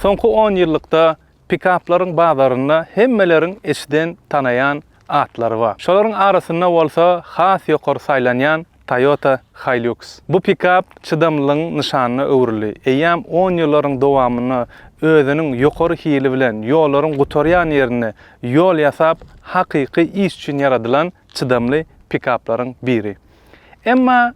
Soňky on ýyllykda pikaplaryň bazarynda hemmeleriň eşiden, tanaýan atlary bar. Şolaryň arasynda bolsa has ýokary saýlanýan Toyota Hilux. Bu pikap çydamlylygyň nyşanyna öwrüldi. Eýýäm on ýyllaryň dowamynda özüniň ýokary hili bilen ýollaryň gutarýan ýerinde ýol ýasap, hakyky iş üçin ýaradylan çydamly pikaplaryň biri. Emma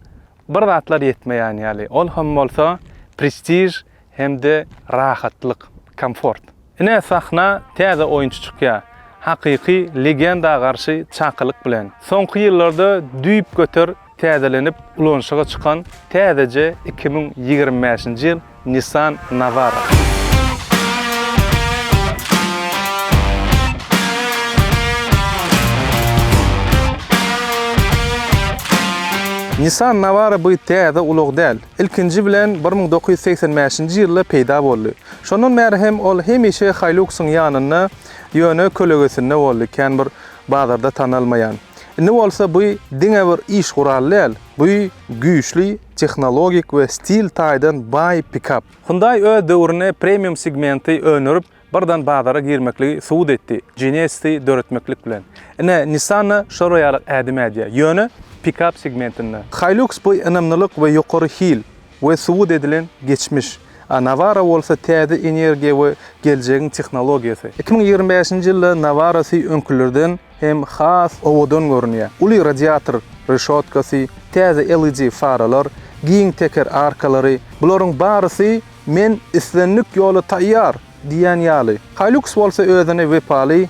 bir zatlar ýetmeýän ýaly, ol hem bolsa prestiž hem-de rahatlyk, komfort. Ine, sahna täze oýunçy çykýar, hakyky legenda garşy çakylyk bilen. Soňky ýyllarda düýpgöter Täzelenip ulanyşyga çykan täzeje iki müň ýigrimi bäşinji ýyl Nissan Navara. Nissan Navara bu täze ulag däl. Ilkinji bilen bir müň dokuz ýüz segsen bäşinji ýylda peýda boldy. Şondan bäri hem ol hemişe Hilux-yň ýanynda, ýöne kölegesinde boldy, kän bir bazarda tanalmaýan. Indi bolsa bu diňe bir iş guraly däl, bu güýçli tehnologik we stil taýdan baý pikap. Hyundai öz döwründe premium segmenti öndürip, birden bazara girmekligi subut etdi, Genesisi döretmeklik bilen. Ine, Nissan-da şol ýaly ädim ädýär, ýöne pikap segmentinde. Hilux bu ynamlylyk we ýokary hil, we subut edilen geçmiş, a Nawara bolsa täze energiýa we geljegiň tehnologiýasy. Iki müň ýigrimi bäşinji ýylda Nawara sy öňkülerden hem has owadan görünýär. Uly radiator reşotkasy, täze LED faralar, giň teker arkalary, bularyň barysy men islendik ýola taýýar diýýän ýaly. Hilux bolsa özüne wepaly,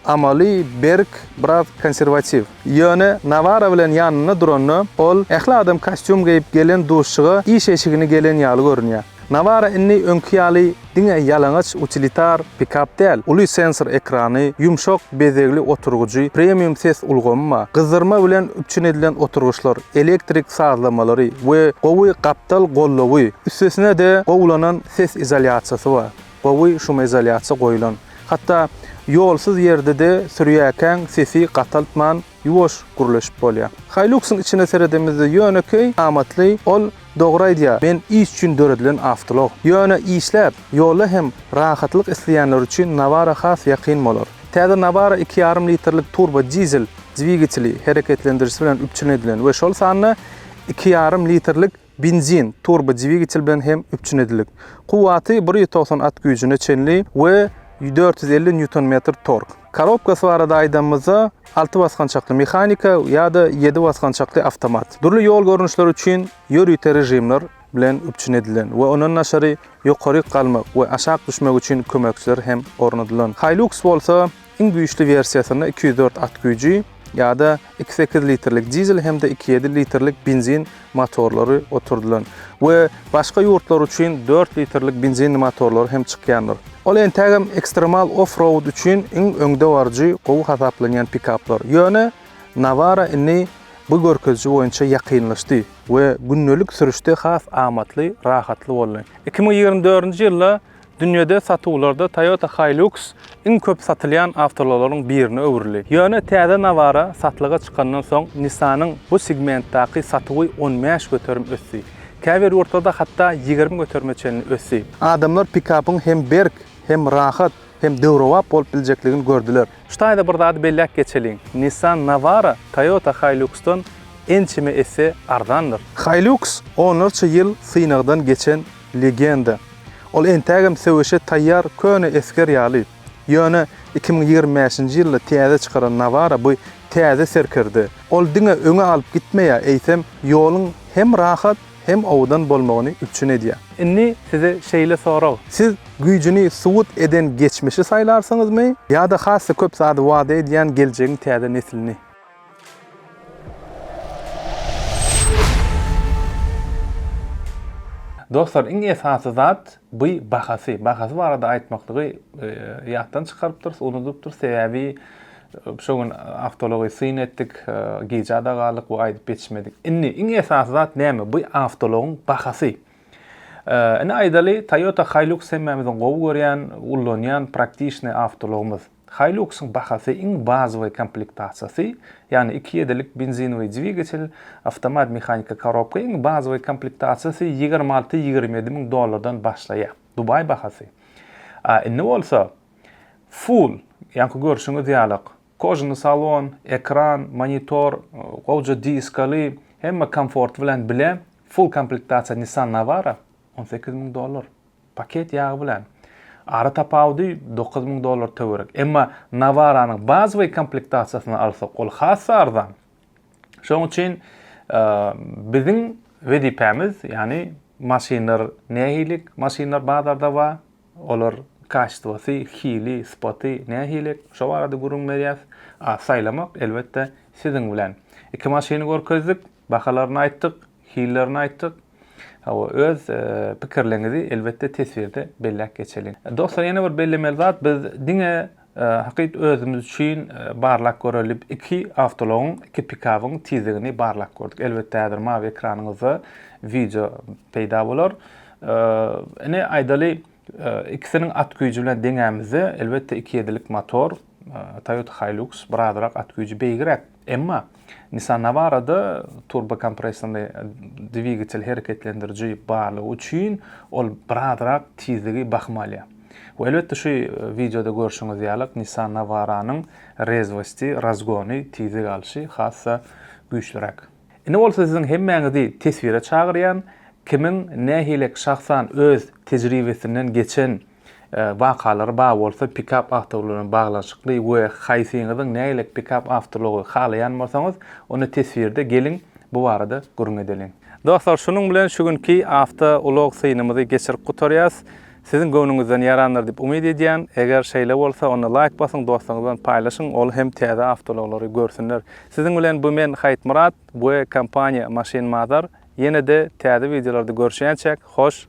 Amaly, berk, biraz konserwatiw. Ýöne Nawara bilen ýanynda duranda, ol ähli adam kostýum geýip gelen duşuşyga iş eşigini gelen ýaly görünýär. Nawara indi öňki ýaly diňe ýalaňaç utilitar pikap däl, uly sensor ekrany, ýumşak bezegli oturgyjy, premium ses ulgamy bar. Gyzdyrma bilen üpjün edilen oturgyçlar, elektrik sazlamalary we gowy gapdal gollawy, üstesine-de gowulanan ses izolýasiýasy bar. Gowy şumizolýasiýa goýlan. Hatda ýolsuz ýerde-de sürýäkäň sesi gataltman, ýuwaş gürleşip bolýar. Hilux-yň içine seredemizde ýönekeý, amatly, ol dogry aýdýar, men iş üçin döredilen awtolog. Ýöne işläp, ýolda hem rahatlyk isleýänler üçin Navara has ýakyn bolar. Täze Navara iki ýarym litrlik turbo dizel dwigateli hereketlendirijisi bilen üpjün edilen we şol sanda iki ýarym litrlik, benzin turbodwigatel bilen hem üpjün edildik. Kuwwaty bir ýüz togsan at güýjüne çenli we dört ýüz elli nýuton-metr tork. Korobkasy barada aýdanymyzda, alty basgançakly mehanika ýa-da ýedi basgançakly awtomat. Dürli ýol görnüşleri üçin ýörite režimler bilen üpjün edilen we ondan daşary ýokaryk galmak we aşak düşmek üçin kömekçiler hem ornadylan. Hilux bolsa, Iň güýçli wersiýasynda iki ýüz dört at güýji ýa-da iki sekiz litrlik dizel hem-de iki ýedi litrlik benzin motorlary oturdylan we başga ýurtlar üçin dört litrlik benzinli motorlary hem çykýandyr. Ol entägem ekstremal off-road üçin iň öňdebaryjy gowy hasaplanýan pikaplar. Ýöne Navara indi bu görkeziji boýunça ýakynlaşdy we gündelik sürüşde has amatly, rahatly boldy. Iki müň ýigrimi dördünji ýylda Dünýäde satuwlarda Toyota Hilux iň köp satylýan awtoulaglaryň birine öwrüldi. Ýöne täze Navara satlyga çykandan soň Nissan-yň bu segmentdaky satuwy on bäş göterim ösdi. Käbir ýurtlarda hatda ýigrimi göterime çenli ösdi. Adamlar pikapyň hem berk, hem rahat, hem döwrebap bolup biljekligini gördüler. Şu taýda bir zady belläp geçeliň, Nissan Navara Toyota Hilux-dan ençeme esse arzandyr. Hilux onlarça ýyl synagdan geçen Legenda, Ol entägem söweşe taýýar köne esger ýaly. Ýöne iki müň ýigrimi bäşinji ýylda täze çykaran Nawara bu täze serkerde. Ol diňe öňe alyp gitmeýär, eýsem, ýoluň hem rahat, hem owadan bolmagyny üpjün edýär. Indi size şeýle sorag. Siz güýjüni subut eden geçmişi saýlarsyňyzmy ýa-da has-da köp zady wada edýän geljegiň täze neslini? Dostlar iň esasy zat by bahasy. Bahasy barada aýtmaklygy ýatdan çykarypdyrys, unudypdyrys. Sebäbi şo gün awtology syn etdik, gijada galdyk we aýdyp ýetişmedik. Indi iň esasy zat näme? By awtologyň bahasy. Ine aýdaly Toyota Hilux hemmämiziň gowy görýän, ullanýan praktiçny awtologymyz. Hiluxyň bahasy iň bazowy komplektasiýasy, ýagny iki ýedilik benzinowy dwigatel, awtomat mehaniki korobka iň bazowy komplektasiýasy ýigrimi alty, ýigrimi ýedi müň dollardan başlaýar. Dubaý bahasy. A indi bolsa full, ýaňky görşüňiz ýaly kožuny salon, ekran, monitor, gowja diskaly, hemme komforty bilen bile full komplektasiýa Nissan Navara on sekiz müň dollar. Paket ýagy bilen. Ara tapawudy dokuz müň dollar töwerek. Emma Navaranyň bazowy komplektasiýasyny alsak, ol hassa arzan. Şoň üçin biziň wezipämiz, ýagny maşynlar nähili maşynlar bazarda bar, olar kaştwasy, hili, sypaty nähili, şo barada gürrüň berýäs. A saýlamak, elbetde, siziň bilen. Iki maşyny görkezdik, bahalaryny aýtdyk. Hillerini aýtdyk. Hawa, öz pikirleriňizi elbetde teswirde belläp geçeliň. Dostlar, ýene bir bellemeli zat, biz diňe hakyt özümiz üçin barlap göreliip iki awtoulagyň, iki pikabyň tizligini barlap gördük. Elbetde häzir mawy ekranyňyzda wideo peýda bolar. Ine aýdaly, ikisiniň at güýji bilen deňämizde, elbetde iki ýedilik motor, Toyota Hilux birazrak at güýji beýgiräk. Emma Nissan Navara-da turbokompressorly dwigatel hereketlendiriji barlygy üçin ol birazrak tizligi bahym alýar. We elbetde şu wideoda görşüňiz ýalyk Nissan Navara-nyň rezwosti, razgony, tizlik alşy has-da güýçliräk. Indi bolsa siziň hemmäňizi teswire çagyrýan, kimiň nähilek şahsan öz tejribesinden geçen wakalar bar bolsa pikap awtoulagly bilen baglanyşykly we haýsyňyzyň nägilek pikap awtoulagy halaýan bolsaňyz onda teswirde geliň bu barada gürrüň edeliň. Dostlar şunuň bilen şu günki awto ulag synymyzy geçirip gutarýas. Siziň göwnüňizden ýarandyr diýip umyt edýän. Eger şeýle bolsa onda laýk basyň dostlaryňyz bilen paýlaşyň ol hem täze awtoulaglary görsünler. Siziň bilen bu men Haýytmyrat we kompaniýa Maşyn Mother ýene-de täze wideolarda görüşýänçäk hoş